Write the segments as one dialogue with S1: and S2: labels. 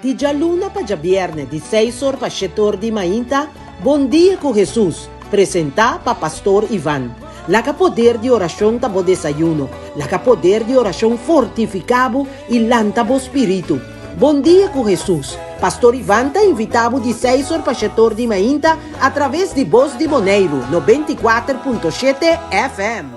S1: Di djaluna pa djabièrnè di seis or pa shete or di mainta, Bondia ku Hesus, presentá pa Pastor Ivan. Laga poder di orashon ta bo desayuno. Laga poder di orashon fortifiká bo i lanta bo spiritu. Bondia ku Hesus, Pastor Ivan ta invitá bo di seis or pa shete or di mainta atraves di Bos di Boneiru, nobenta i kuater punto shete FM.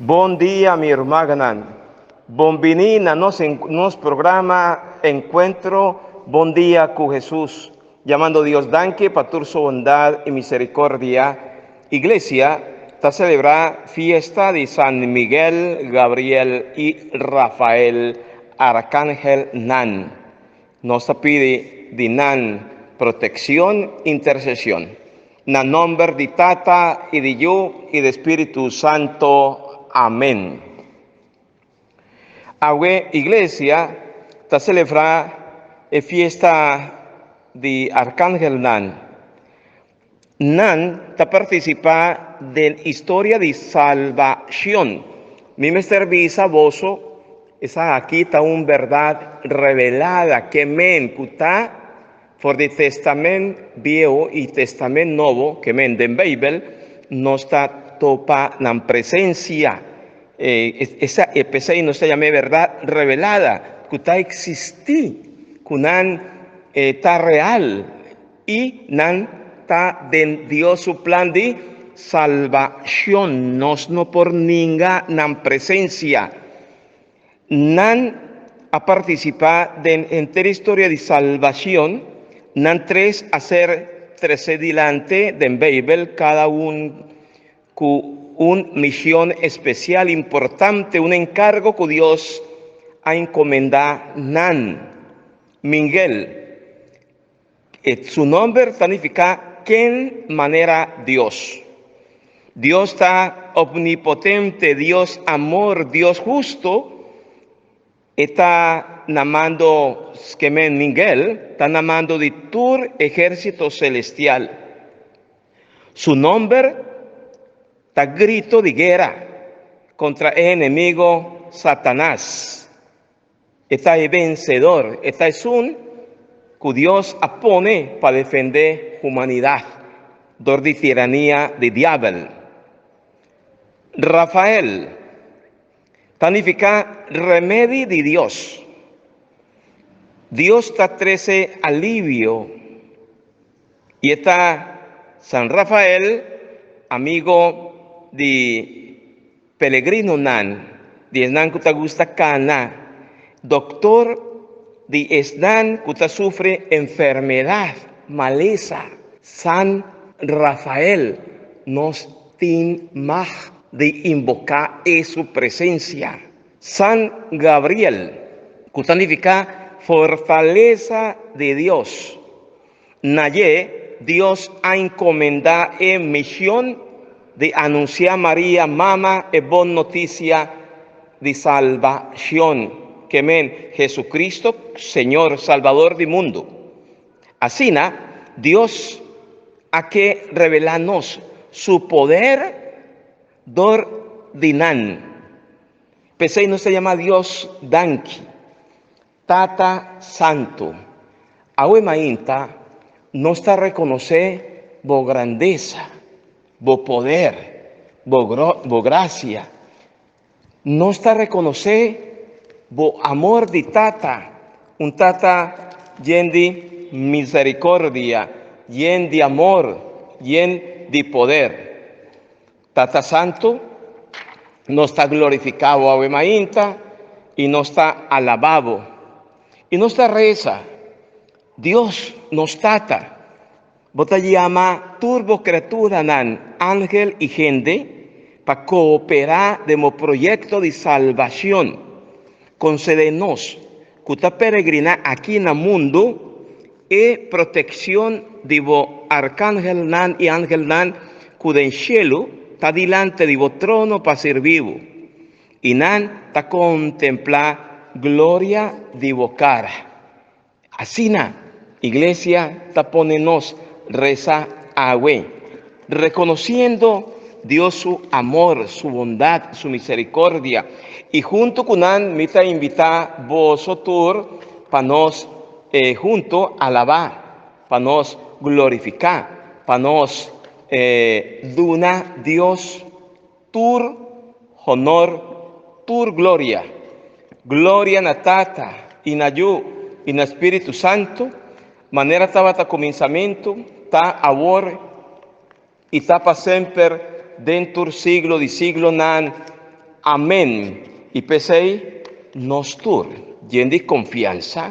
S2: Bon dia mi ermaganan, bon bini na nos nos programa Encuentro Bon Dia cu Hesus. Jamando Dios danki pa tur su bondad y misericordia, Iglesia ta celebra fiesta di San Miguel, Gabriel y Rafael Arcangel nan. Nos ta pidi di nan proteccion, intercesion. Na nomber di Tata, i di Yu, i di Spiritu Santo. Amen. Awe Iglesia ta selebrá e fiesta di Arkangelnan. Nan ta partisipá den historia di salbashon. Mi mester bisa boso, esaki ta un bèrdat rebelada, ke men ku ta For di Testamen Biehu i Testamen Nobo, ke men den Beibel, nos ta topa nan presensia. E, esa e p'esei nos ta yama e bèrdat revelada, ku ta eksistí, ku nan e ta real i nan ta den Dios su plan di salbashon. Nos no por ninga nan presensia. Nan a participá den henter historia di salbacion, nan tres a ser trecé dilante den Bijbel, cada un cu un mision especial importante, un encargo cu Dios a encomendá nan. Mingel. E su nomber ta nifiká Ken Manera Dios. Dios ta opnipotente, Dios amor, Dios hustu. E ta na mando, Skemen Mingel ta na mando di tur ehérsito selestial. Su nomber ta grito di guera kontra e enemigo Satanas. E ta e bensedor, e ta esun ku Dios a pone pa defendé humanidat dor di tirania di diabel. Rafael ta nifiká Remedi di Dios. Dios ta trese alivio i e ta San Rafael, amigo di. Pelegrinonan, di esnan ku ta gusta kana, doktor di esnan ku ta sufri enfermedat, malesa, San Rafael, nos tin mag di inboká e su presensia. San Gabriel, ku ta nifiká fortalesa di Dios. Na dje, Dios a encomendá e mision di anunciá Maria mama e bon noticia di salbacion, ke men, Jesucristo, Señor, Salbador di mundu. Asina, Dios a ke revelá nos Su poder dor di nan. P'esei nos ta yama Dios danki. Tata Santu, awe mainta nos ta rekonosé Bo grandesa, Bo poder, Bo Bo grasia. Nos ta rekonosé Bo amor di Tata, un Tata yen di miserikordia, yen di amor, yen di poder. Tata Santu, nos ta glorifiká Bo awe mainta i nos ta alabá Bo. I nos ta resa, Dios, nos Tata, Bo ta yama tur Bo kreaturanan, angel i hende, pa kooperá den Bo proyekto di salbashon. Konsede nos. ku ta peregriná aki na mundu, e protekshon di bo arkangelnan i angelnan ku den shelu ta dilanti di bo trono pa sirbi bo, i nan ta kontemplá gloria di bo kara. Asina. Iglesia ta pone nos resa awe, reconociendo Dios su amor, su bondad, su misericordia. Y hunto cu nan mi ta invita boso tur pa nos hunto alaba, pa nos glorifica, pa nos duna Dios Tur honor, tur gloria. Gloria na Tata, i na Yu, i na Spiritu Santu, manera tabata kuminsamentu, ta awor, i ta pa semper, den tur siglo di siglonan. Amen. I p'esei, nos tur, djen di konfiansa,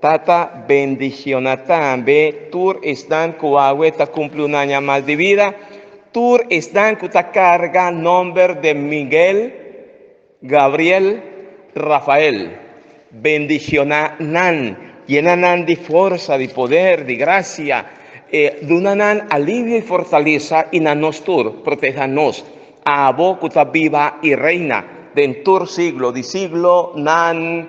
S2: Tata, bendiciona tambe tur esnan cu awe ta cumpli un aña mas di vida, tur esnan cu ta carga nomber de Miguel, Gabriel, Rafael. Bendiciona nan, yena nan di forsa, di poder, di gracia, e duna nan alivio y fortaleza y na nos tur proteha nos, abo cu ta biba y reina den tur siglo di siglonan.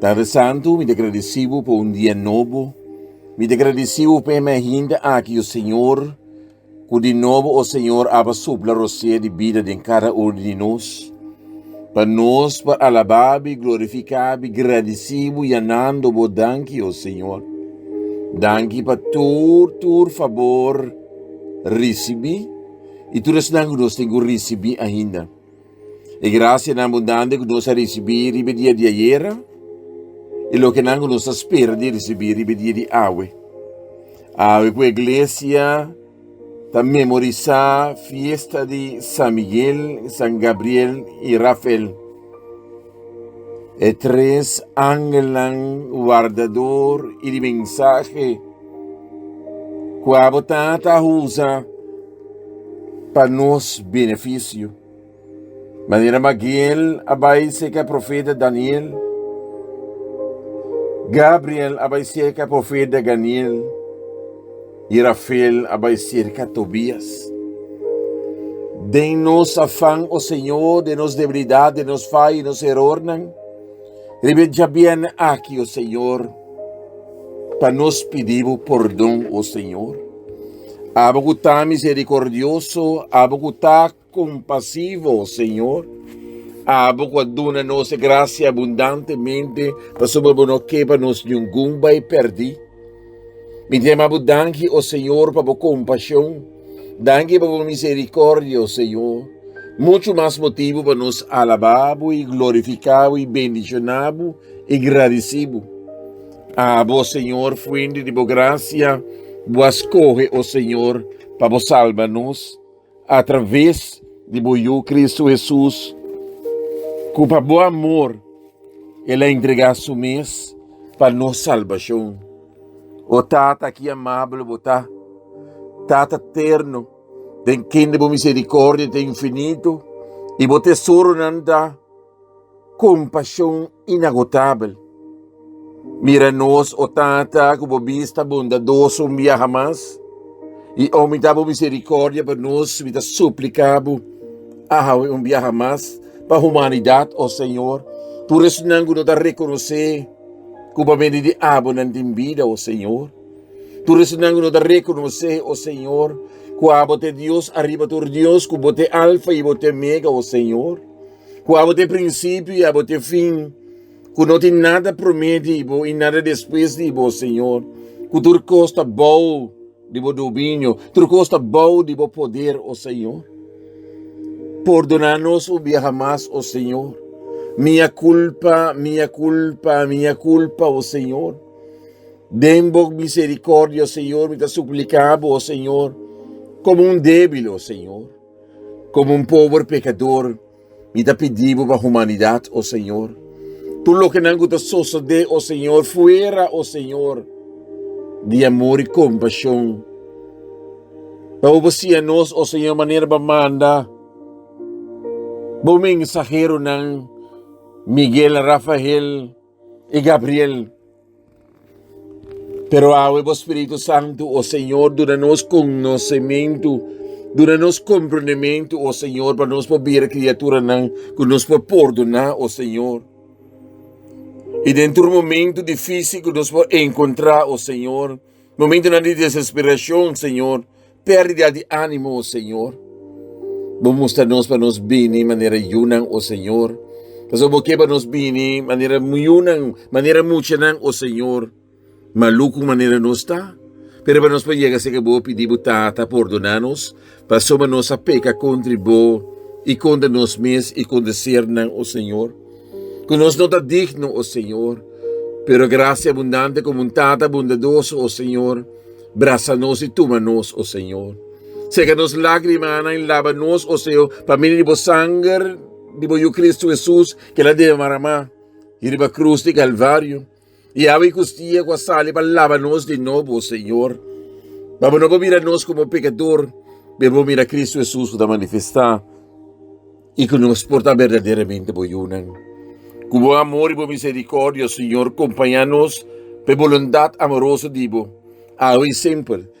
S3: Tarde Santu, mi ta gradisí Bo pa un dia nobo. Mi ta gradisí Bo pa e mei hende aki, o Señor, ku di nobo, o Señor, aba supla rosea di bida den kada unu di nos, pa nos por alabá Bo i glorifiká Bo i gradisí Bo yanando Bo danki, o Señor. Danki pa tur, tur fabor risibí i tur esnan ku nos tin ku risibí ainda. E grasianan bundante ku nos a risibí riba e dia di ayera i lokenan ku nos ta spera di risibí riba e dia di awe. Awe ku e Glesia ta memorisá fiesta di San Miguel, San Gabriel i Rafael. E tres angelnan wardador i di mensahe ku abo Tata a usa pa nos benefisio. Manera Magiel a bai serka profeta Daniel, Gabriel a bai serka profeta Daniel. I Rafael a bai serka Tobias. Den nos afan, o Señor, den nos debilidat, den nos faya i nos erornan, riba e djabièrnè aki, o Señor, pa nos pidi Bo pordon, o Señor. Abo ku ta miserikordioso, abo ku ta Compasivo, Señor, abo cu a duna nos e gracia abundantemente, pasobra bo no ke pa nos ningun bai perdi. Mi ta yama bo danki, o Señor, pa bo compasion. Danki pa bo misericordia, o Señor. Muchu mas motibu pa nos alaba bo i glorifica bo i bendiciona bo i gradici bo. Abo, o Señor, fuente di bo gracia, bo a scoge, o Señor, pa bo salba nos. Atraves di bo Yu Kristu Hesus, ku pa bo amor el a entregá su mes pa nos salbashon. O Tata, ki amabel bo ta, Tata terno, den kende bo miserikòrdia ta infinitu i bo tesoronan ta. Compashon inagotabel. Mira nos, o Tata, cu bo bis ta bondadoso un biaha mas, y aumenta bo misericordia pa nos. Mi ta suplica bo, a hawe un biaha mas pa humanidad, o Señor, tur esnan cu no ta reconoce cu pa bende di abo nan tin bida, o Señor. Tur esnan cu no ta reconoce, o Señor, cu abo ta e Dios ariba tur dios, cu bo ta e Alfa y bo ta e Omega, o Señor. Ku abo ta e prinsipio i abo ta e fin, ku no tin nada promé di bo i nada despues di bo, Señor, ku tur kos ta bou di bo dominio, tur kos ta bou di bo poder, o Señor. Pordoná nos un biaha mas, o Señor. Mia kulpa, mia kulpa, mia kulpa, o Señor. Den bo miserikordia, o Señor, mi ta supliká bo, o Señor, komo un débil, o Señor. Komo un pober pekador, mi ta pidi bo pa humanidat, o Señor. Tur lokenan ku ta sosodé, o Señor, fuera, o Señor, di amor i kompashon. Ta bo ba siña nos, o Señor, manera bo a manda bo mensaheronan Miguel, Rafael i Gabriel. Pero awe bo Spiritu Santu, o Señor, duna nos conocimiento, duna nos comprendimiento, o Señor, pa nos por bira criaturanan cu nos por pordona, o Señor. Y den tur momento difícil cu nos por encontra, o Señor, Momentunan di desesperacion, Señor, pérdida di ánimo, oh Señor, Bo mustra nos pa nos bini manera yunan, oh Señor. Pasobra Bo ke pa nos bini manera yunan, manera muchanan, oh Señor, malucu manera nos ta. Pero pa nos por yega cerca Bo, pidi Bo, Tata, pordona nos, Pasobra nos a peka kontra i bo, i kontra nos mes i kontra sernan, o señor, ku nos no ta digno, o señor. Pero grasia abundante komo un tata bundadoso, o señor, brasa nos i tuma nos, o señor. Seka nos lágrimanan i laba nos, o señor, pa medio di bo sanger di bo Yu Kristu Hesus, kila debí maramá riba krus di Kalvario. I awe kustie ku a sali pa laba nos di nobo, o Señor, pa bo no por mira nos komo pekador, me bo mira Kristu Hesus ku ta manifestá i ku nos por ta berdaderamente bo yunan. Ku bo amor i bo miserikòrdia, o Señor, kompañá nos pa e bolundat amoroso di bo, awe i semper.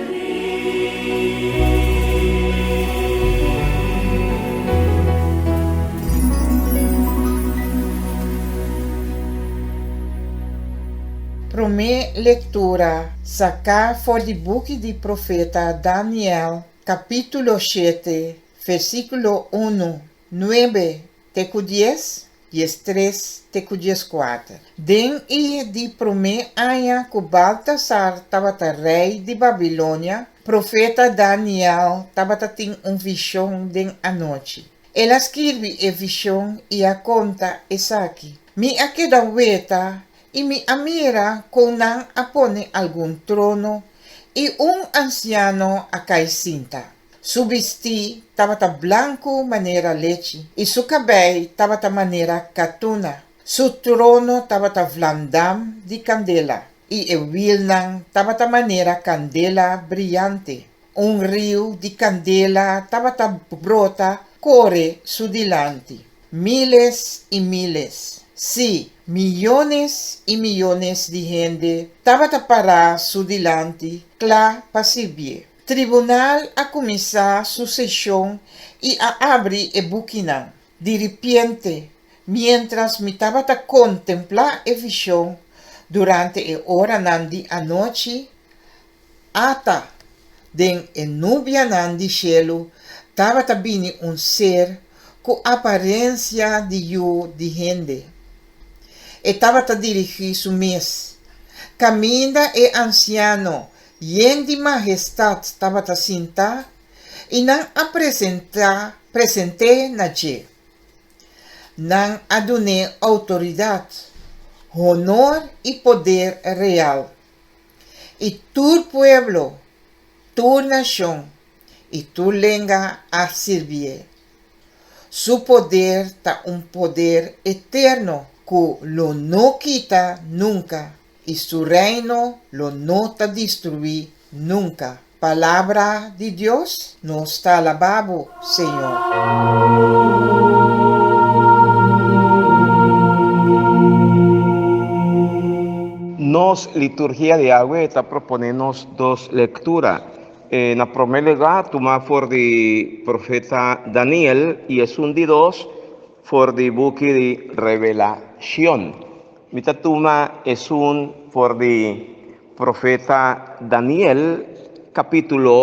S4: Promé lektura saká for di buki di profeta Daniel, kapítulo shete, versíkulo unu Nuebe te ku dies, dies tres te ku dies kuater. Den e di promé aña ku Baltasar tabata rei di Babilonia, profeta Daniel tabata tin un vishon den anochi. El a skirbi e vishon i a konta esaki, Mi a keda weta i mi a mira kon nan a pone algun trono i un ansiano a kai sinta. Su bistí tabata blanku manera lechi, i su kabei tabata manera katuna. Su trono tabata vlandam di kandela, i e wilnan tabata manera kandela briante. Un riu di kandela tabata brota kore su dilanti. Míles i míles, sí, miyones i miyones di hende tabata pará su dilanti kla pa sirbié. Tribunal a kuminsá su seshon i a abri e bukinan. Di ripiente, miéntras mi tabata kontemplá e vishon durante e oranan di anochi, Ata den e nubianan di shelu tabata bini un ser ku aparensia di yu di hende. E tabata dirigí su mes kaminda e ansiano Yen di Majestad tabata sinta i nan a presenta present'é na dje. Nan a dun'é outoridad, honor i poder real. I tur pueblo, tur nashon i tur lenga a sirbi'é. Su poder ta un poder eterno ku lo no kita nunka. I su reino lo no ta destruí nunka. Palabra di Dios nos ta alabá bo, Señor.
S2: Nos liturgia di awe ta proponé nos dos lektura. E na promé lugá tumá for di profeta Daniel i esun di dos For di buki di Revelashon. Mi ta tuma esun for di profeta Daniel, kapítulo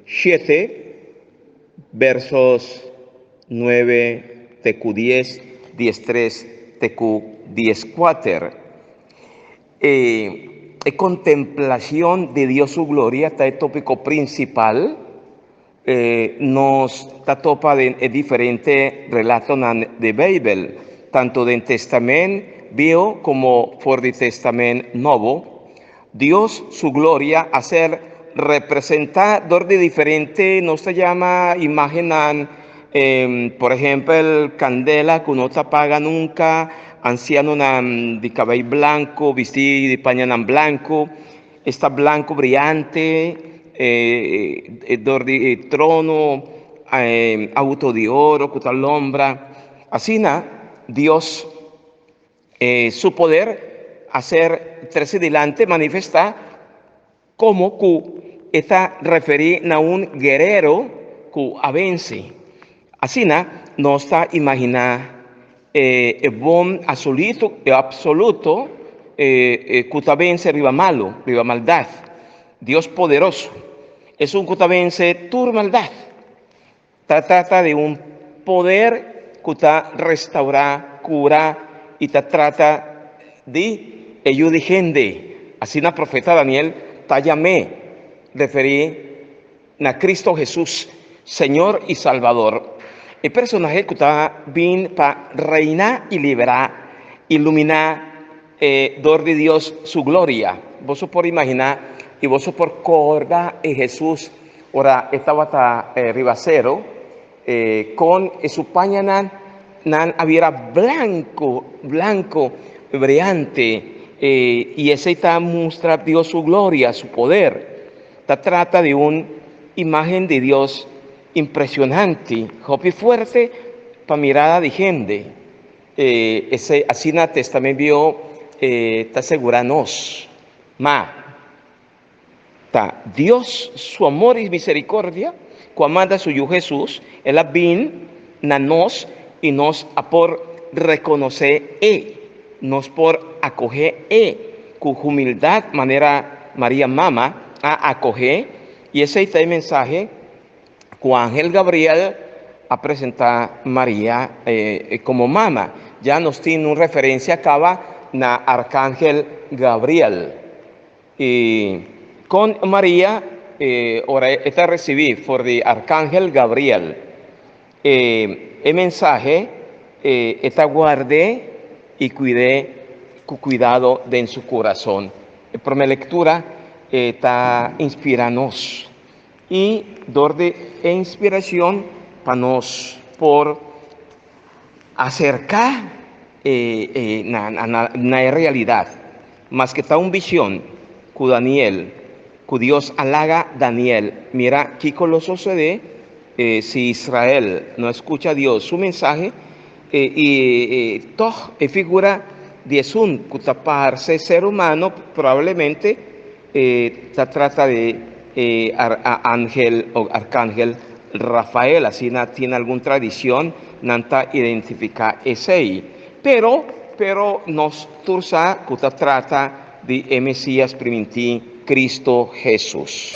S2: shete, bèrsos nuebe te ku dies, dies tres te ku dies kuater. E kontemplashon di Dios su gloria ta e tópiko prinsipal. Nos ta topa den e diferente relatonan di Beibel, tantu den Testamen Bieu komo for di Testamen Nobo. Dios su gloria a ser representá dor di diferente nos ta yama imágennan, por ehempel, kandela ku no ta paga nunka, ansianonan di kabei blanku bistí di pañanan blanku. Esta blanco briante e dor di e trono auto di oro cu ta lombra. Asina Dios e su poder a ser trece dilanti manifesta como cu e ta referi na un guerero cu a venci. Asina nos ta imagina. E e bon asolitu, e apsoluto, e e ku ta bense riba malu, riba maldat, Dios poderoso, esun ku ta bense tur maldat. Ta trata di un poder ku ta restaurá, kurá i ta trata di e yu di hende, asina profeta Daniel ta yam'é referí. Na Cristo Jesus, Señor i Salvador, e personahe cu ta bin pa reina i libera, ilumina e dor di Dios su gloria. Boso por imagina i boso por corda e Jesus ora e tabata riba cero? E kon e su pañanan nan a bira blanko, blanko, briante, e i esei ta mustra Dios su gloria, su poder. Ta trata di un imagen di Dios impresionante, hopi fuerte pa mirada di hende. E esei asina Testamen Biaho ta segura nos. Ma. Ta Dios su amor i misericordia cu a manda su Yu Jesus, el a bin na nos i nos a por reconoce e nos por acoge e cu humildad manera Maria Mama a acoge i esey ta e mensahe cu angel Gabriel a presenta Maria como mama. Ya nos tin un referencia caba na arcangel Gabriel. I kon Maria ora e ta risibí for di arkangel Gabriel e mensahe, e ta guard'é i kuid'é ku kuidado den su kurason. E promé lektura ta inspirá nos i dor di e inspirashon pa nos por. Acerca na e realidad, maske ta un vision cu Daniel, cu Dios a laga Daniel mira kico lo sucede si Israel no a scucha Dios su mensahe, y tog e figura di esun cu ta parce ser humano probablemente, E ta trata di e aangel o arkangel Rafael, asina tin algun tradicion nan ta identifica esey. Pero, pero nos tur sa cu ta trata di e Mesias priminti, Cristo Jesus.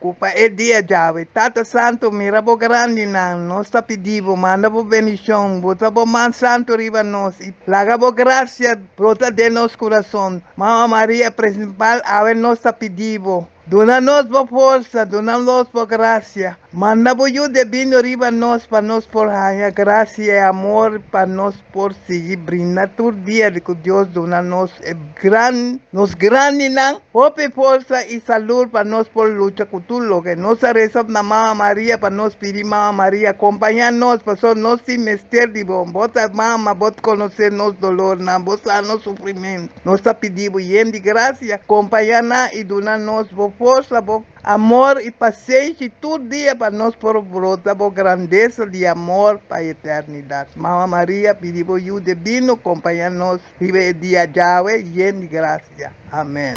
S5: Ku pa e dia djawe, Tata Santu, mira bo grandinan, nos ta pidi bo, manda bo bendishon, bota bo man santu riba nos i laga bo grasia brota den nos kurason. Mama Maria presimpal, awe nos ta pidi bo, duna nos bo forsa, duna nos bo grasia, manda bo yu debindo riba nos pa nos por haña grasia i amor pa nos. por sigui brinda tur dia di cu Dios duna nos e gran nos grandinan hopi forsa y salud pa nos por lucha cu tur loke. Nos a reza op na Mama Maria pa nos pidi Mama Maria compaña nos pasobra nos tin mester di bo. Bo ta Mama, bo ta conoce nos dolornan, bo sa nos sufrimento. Nos ta pidibo yen di gracia, compaña nan y duna nos bo forsa, bo. Amor i pasenshi tur dia pa nos por brota bo grandesa di amor pa eternidat. Mama Maria, pidi bo yu de bini kompaña nos riba e dia djawe yen di grasia. Amèn.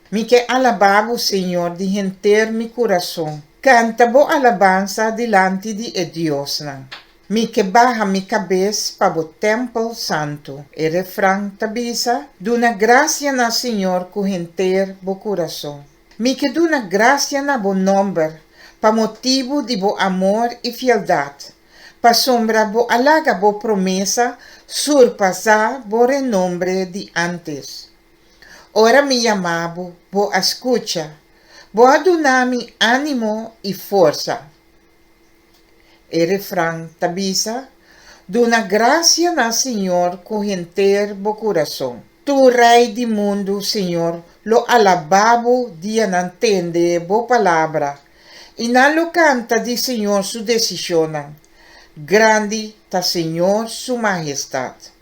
S4: Mi ke alabá Bo, Señor, di henter mi kurason. Kanta Bo alabansa dilanti di e diosnan. Mi ke baha mi kabes pa Bo tèmpel santu. E refran ta bisa, Duna grasia na Señor ku henter bo kurason. Mi ke duna grasia na Bo nòmber pa motibu di Bo amor i fieldat, pasobra Bo a laga Bo promesa surpasá Bo renombre di ántes. Ora mi yama bo, bo a skucha. Bo a duna mi ánimo i forsa. E refran ta bisa, Duna grasia na Señor ku henter bo kurason. Tur rei di mundu, Señor, lo alabá bo di a nan tende bo palabra, i nan lo kanta di Señor su desishonnan. Grandi ta Señor su mahestat!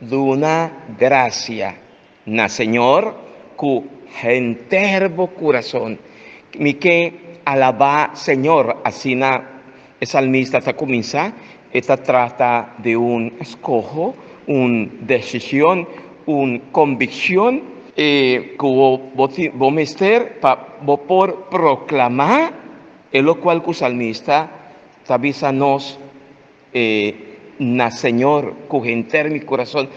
S2: Duna grasia na Señor cu henter bo curazon. Mi ke alabá Señor, asina e salmista ta cuminsa. E ta trata di un scoho, un decision, un conviccion. E cu bo tin, bo mester pa bo por proclamá e locual cu salmista ta bisa nos. E na Señor cu henter mi curazon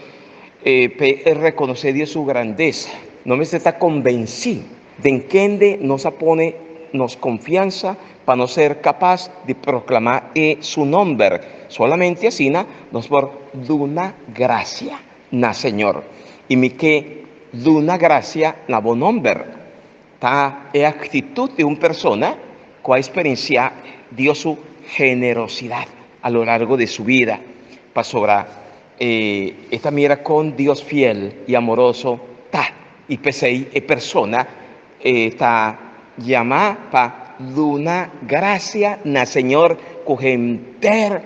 S2: e pe e reconoce di e su grandesa. Nos mester ta convenci den kende nos a pone nos confiansa pa nos ser capaz di proclama e su nomber. Solamente asina nos por duna gracia na Señor. Y mi ke duna gracia na bo nomber. Ta e aktitut di un persona ku a eksperensiá Dios su generosidat a lo largo di su bida, pasobra e ta mira kon Dios fiel i amoroso ta i p'esei e persona ta yamá pa duna grasia na Señor ku henter.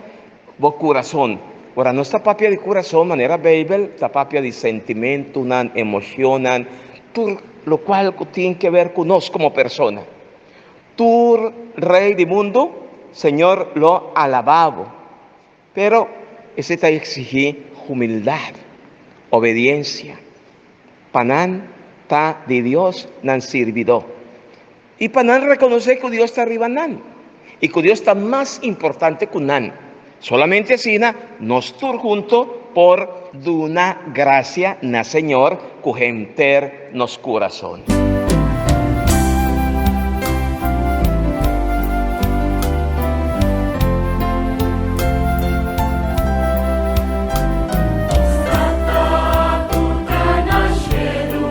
S2: Bo kurason. Ora nos ta papia di kurason, manera Beibel ta papia di sentimentunan, emoshonnan, tur lokual ku tin ke ber ku nos komo persona. Tur rei di mundu, Señor lo alabá bo. Pero esei ta eksigí humildat, obediensia, pa nan ta di Dios nan sirbidó. i pa nan rekonosé ku Dios ta riba nan i ku Dios ta mas importante ku nan. Solamente asina nos tur huntu por duna grasia na Señor ku henter nos kurason.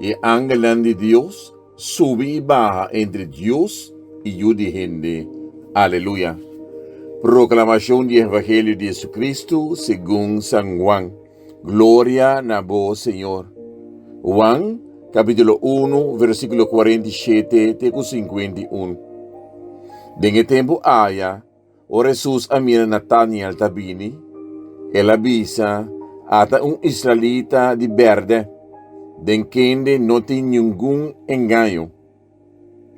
S3: E angelnan di Dios subi i baha entre Dios i yu di hende. Aleluya! Proklamashon di e evangelio di JesuCristu segun San Juan. Gloria na bo, Señor! Juan, capítulo uno, versículo cuarenta i shete te cu cincuenta i un. Den e tempu aya, Ora Hesus a mira Nataniel ta bini, el a bisa, Ata un israelita di berde, den kende no tin ningun engaño.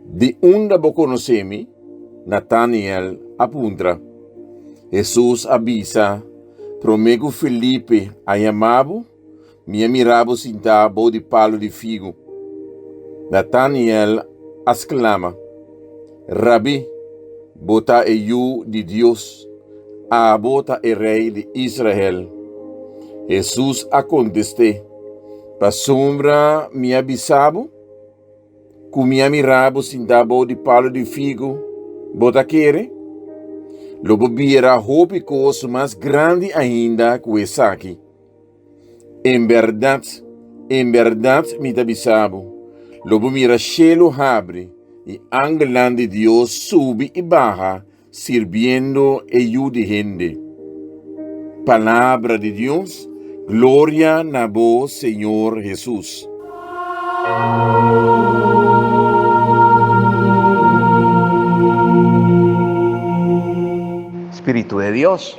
S3: Di unda bo konosé mi? Nataniel a puntra. Hesus a bisa, Promé ku Felipe a yamá bo, Mi a mira bo sintá bou di palu di figu. Nataniel a sklama, Rabí, bo ta e Yu di Dios, abo ta e Rei di Israel. Hesus a kontest'é, Pasobra mi a bisa bo ku mi a mira bo sintá bou di palu di figu, bo ta kere? Lo bo bira hopi kos mas grandi ainda ku esaki. En bèrdat, en bèrdat mi ta bisa bo, lo bo mira shelu habri i angelnan di Dios subi i baha sirbiendo e yu di hende. Palabra di Dios, Gloria na bo Señor Hesus.
S2: Spiritu di Dios.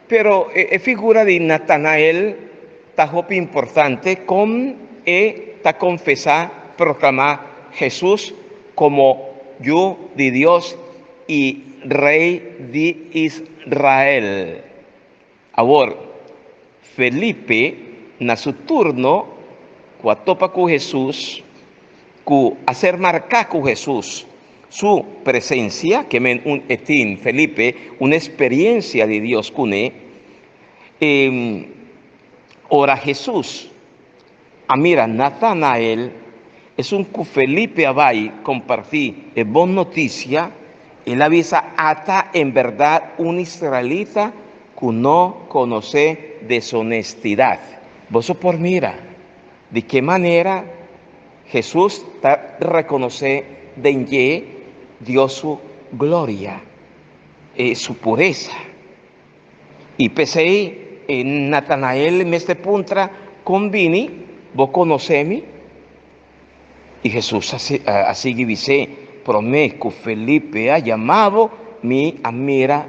S2: Pero e figura di Natanael ta hopi importante kon e ta konfesá, proklamá, Hesus komo Yu di Dios i Rei di Israel. Awor, Felipe na su turno ku a topa ku Hesus, ku a ser marká ku Hesus, Su presencia, ke men un e tin, Felipe, un experiencia di Dios cune, e ora Jesús a mira Natanael, esun cu Felipe a bay comparti e bon noticia, el a bisa, Ata en berdad un israelita cu no conoce deshonestidad. Boso por mira. Di ke manera Hesus ta rekonosé den dje Dios su gloria i su puresa? I p'esei Natanael mester puntra, Kon bini bo konosé mi? I Hesus a sigui bis'é, Promé ku Felipe a yama bo, mi a mira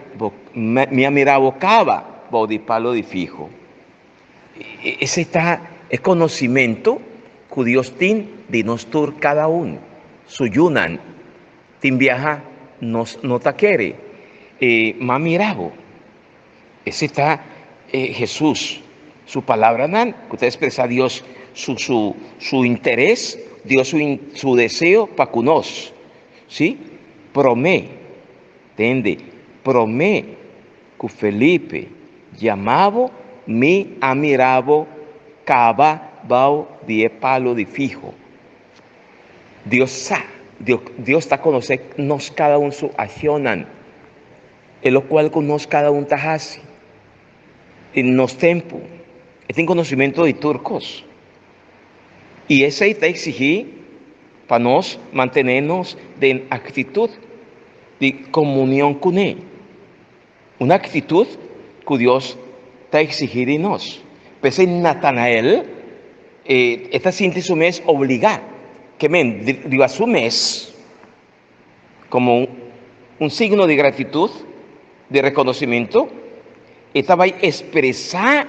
S2: bo kaba bou di palu di figu. Esei ta e konosimentu ku Dios tin di nos tur, kada un. Su yunan tin biaha, nos no ta kere. Ma mira bo, esei ta e Hesus su palabranan ku ta ekspresá Dios su interes, Dios su deseo pa ku nos. Sí, promé. Tende, promé ku Felipe yama bo, mi a mira bo kaba bao di e palo di fiho. Dios sa, Dios ta konosé nos kada un su akshonnan i lokual ku nos kada un ta hasi. I nos tempu, e tin konosimentu di tur kos. I esei ta eksigí pa nos mantené nos den aktitut di komunion kuné, un aktitut ku Dios ta eksigí di nos. P'esei Natanael e ta sinti su mes obligá, ke men riba su mes. Komo un signo di gratitut, di rekonosimentu, e ta bai ekspresá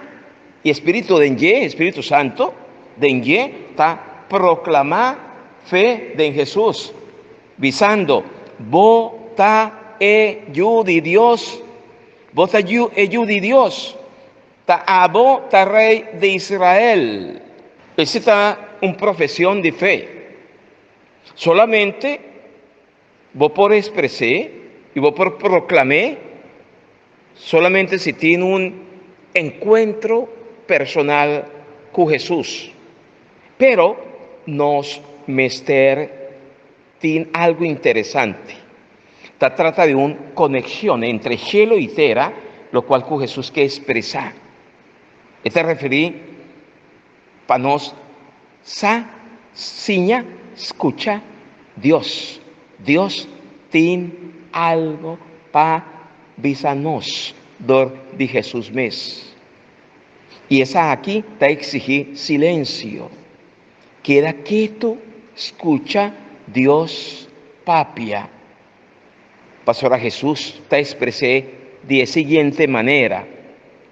S2: e espiritu den dje, e Spiritu Santu den dje ta proklamá fe den Hesus, bisando, Bo ta e Yu di Dios! Bo ta Yu, e Yu di Dios! Ta abo ta Rei di Israel! Esei ta un profesion di fe. Solamente bo por expres'é i bo por proklam'é solamente si tin un enkuentro personal ku Hesus. Pero nos mester tin algu interesante, ta trata di un konekshon entre shelu i tera lokual ku Hesus ke ekspresá. E ta referí Pa nos sa, siña, skucha Dios. Dios tin algo pa bisa nos dor di Hesus mes. I esaki ta eksigí silensio. Keda ketu skucha Dios papia. Pasobra Hesus ta espres'é di e siguiente manera.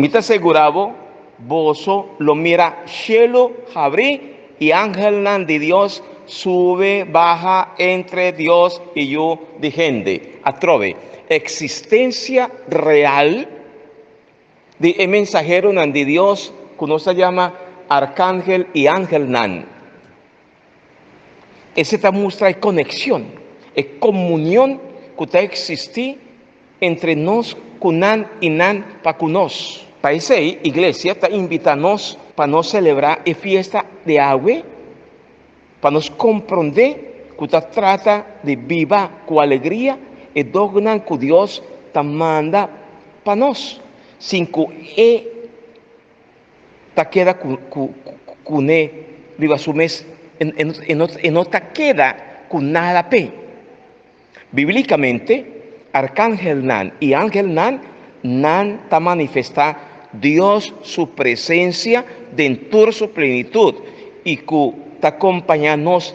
S2: Mi ta segura bo, boso lo mira shelu habrí i angelnan di Dios sube baha entre Dios i yu di hende. Atrobe, e eksistensia real di e mensaheronan di Dios ku nos ta yama arkangel i angelnan. Esei ta mustra e konekshon, e komunion ku ta eksistí entre nos ku nan i nan pa ku nos. Pa esei, Iglesia ta invitá nos pa nos selebrá e fiesta di awe, pa nos komprondé ku ta trata di biba ku alegria e dognan ku Dios ta manda pa nos, sin ku e. ta keda kuné riba su mes, e no ta keda ku nada p'e. Bíblikamente, arkangelnan i angelnan nan ta manifestá Dios su presensia den tur su plenitut i ku ta kompañá nos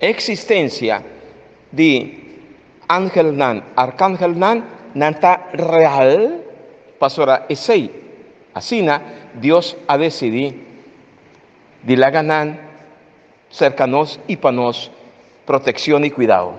S2: E eksistensia di angelnan, arkangelnan, nan ta real pasobra esei. Asina Dios a desidí di laga nan serka nos i pa nos protekshon i kuidau.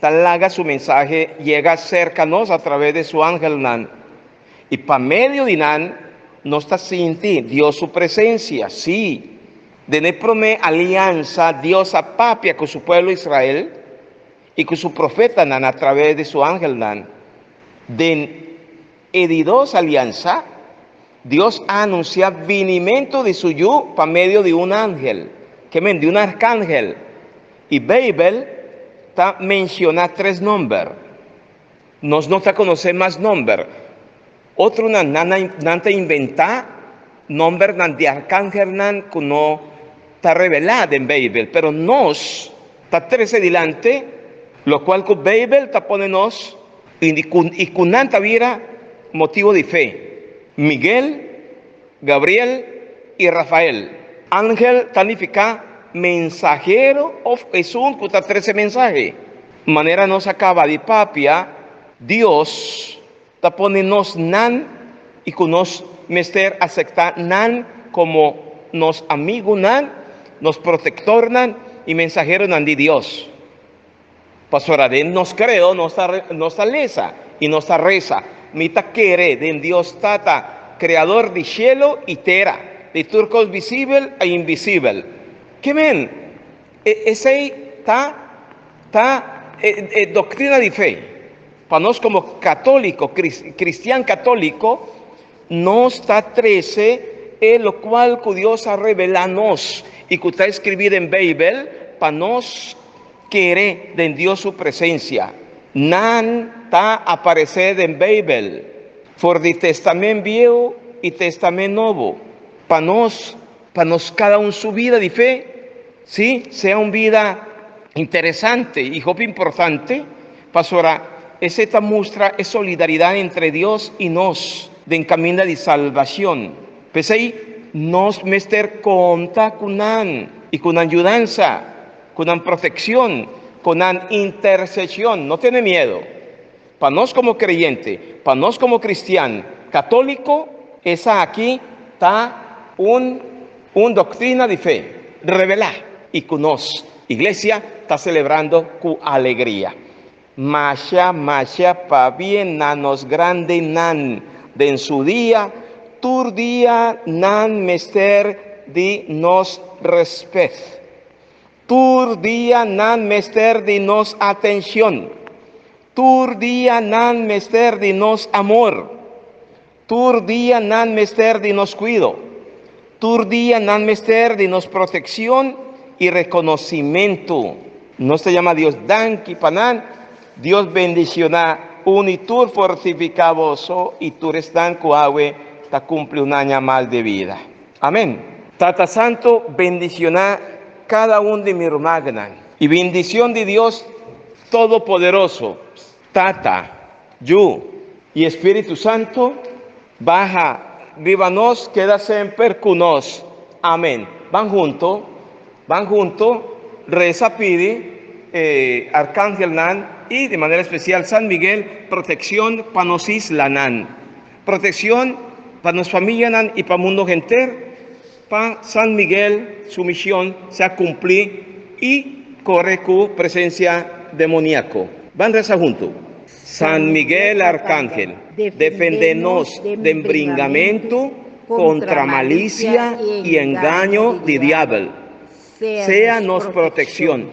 S2: ta laga su mensahe yega serka nos atraves de su angelnan, i pa medio di nan nos ta sinti Dios su presensia. Sí, den e promé aliansa Dios a papia ku su pueblo Israel i ku su profetanan atraves di su angelnan den E di dos aliansa, Dios a anunsiá binimentu di su Yu pa medio di un angel, ke men, di un arkangel, i Beibel ta menshoná tres nòmber. Nos no ta konosé mas nòmber. Otronan nan nan ta inventá nòmbernan di arkangelnan ku no ta revelá den Beibel, pero nos Ta trese dilanti lokual ku Beibel ta pone nos i di ku i ku nan ta bira motibu di fe. Miguel, Gabriel i Rafael. Ángel ta nifiká mensahero òf esun ku ta trese mensahe. Manera nos a kaba di papia, Dios Ta pone nos nan i ku nos mester asektá nan komo nos amigunan, nos protektornan i mensaheronan di Dios. Pasobra den nos kreo nos ta lesa i nos ta resa, Mi ta kere den Dios Tata, Kreador di shelu i tera, di tur kos bisibel i inbisibel. Ke men, esei ta ta e doktrina di fe. Pa nos komo katóliko, kristian katóliko, nos ta trese e lokual ku Dios a revelá nos i ku ta eskribí den Beibel pa nos kere den Dios su presensia. Nan ta aparesé den Beibel for di Testamen Bieu i Testamen Nobo pa nos Pa nos kada un su bida di fe, si, sea un bida interesante i hopi importante, pasobra esei ta mustra e solidaridat entre Dios i nos den kaminda di salbashon. P'esei nos mester konta ku nan i ku nan yudansa, ku nan protekshon, ku nan interseshon. No tene miedo. Pa nos komo kreyente, pa nos komo kristian katóliko, esaki ta un un doktrina di fe revelá i ku nos iglesia ta selebrando ku alegria. Masha masha pabia na nos grandenan den su dia, tur dia nan mester di nos rèspèt. Tur dia nan mester di nos atencion. Tur dia nan mester di nos amor. Tur dia nan mester di nos cuido. Tur dia nan mester di nos proteccion y reconocimento. Nos ta yama Dios danki pa nan. Dios bendiciona un y tur fortifica boso y tur esnan cu awe ta cumpli un aña mas de vida. Amen. Tata Santu bendiciona cada un di mi rumagenan. E bendicion di Dios Todopoderoso, Tata, Yu, y Espiritu Santu baha riba nos keda semper cu nos. Amen. Ban hunto, ban hunto reza pidi e arcangelnan y di manera especial San Miguel proteccion pa nos islanan. Protekshon pa nos familianan i pa mundo henter pa San Miguel su mishon sea kumplí i kore ku presensia demoniako. Ban resa huntu, San Miguel Arkangel, defendé nos den bringamentu kontra malisia i engaño di diabel. Sea nos protekshon,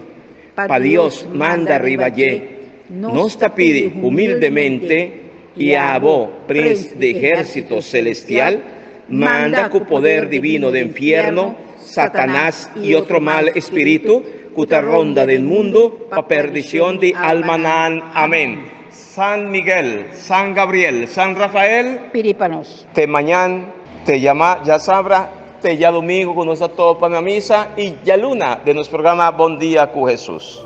S2: pa Dios manda riba dje, nos ta pidi humildemente i a Abo, Prins di Ehérsito Selestial, manda ku poder divino den fierno Satanas i otro mal espiritu ku ta ronda den mundu pa perdishon di almanan. Amén. San Miguel, San Gabriel, San Rafael. Pidi pa nos. Te
S6: mañan,
S2: te yama djasabra, te djalumingu cu nos ta topa na misa y djaluna den nos programa Bon Dia cu Jesus.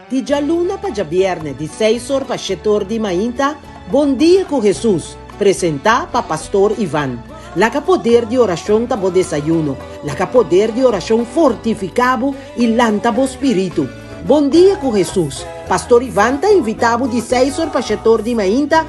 S1: Di djaluna pa djabièrnè di seis or pa shete or di mainta, Bondia ku Hesus, presentá pa Pastor Ivan. Laga poder di orashon ta bo desayuno. Laga poder di orashon fortifiká bo i lanta bo spiritu. Bondia ku Hesus, Pastor Ivan ta invitá bo di seis or pa shete or di mainta,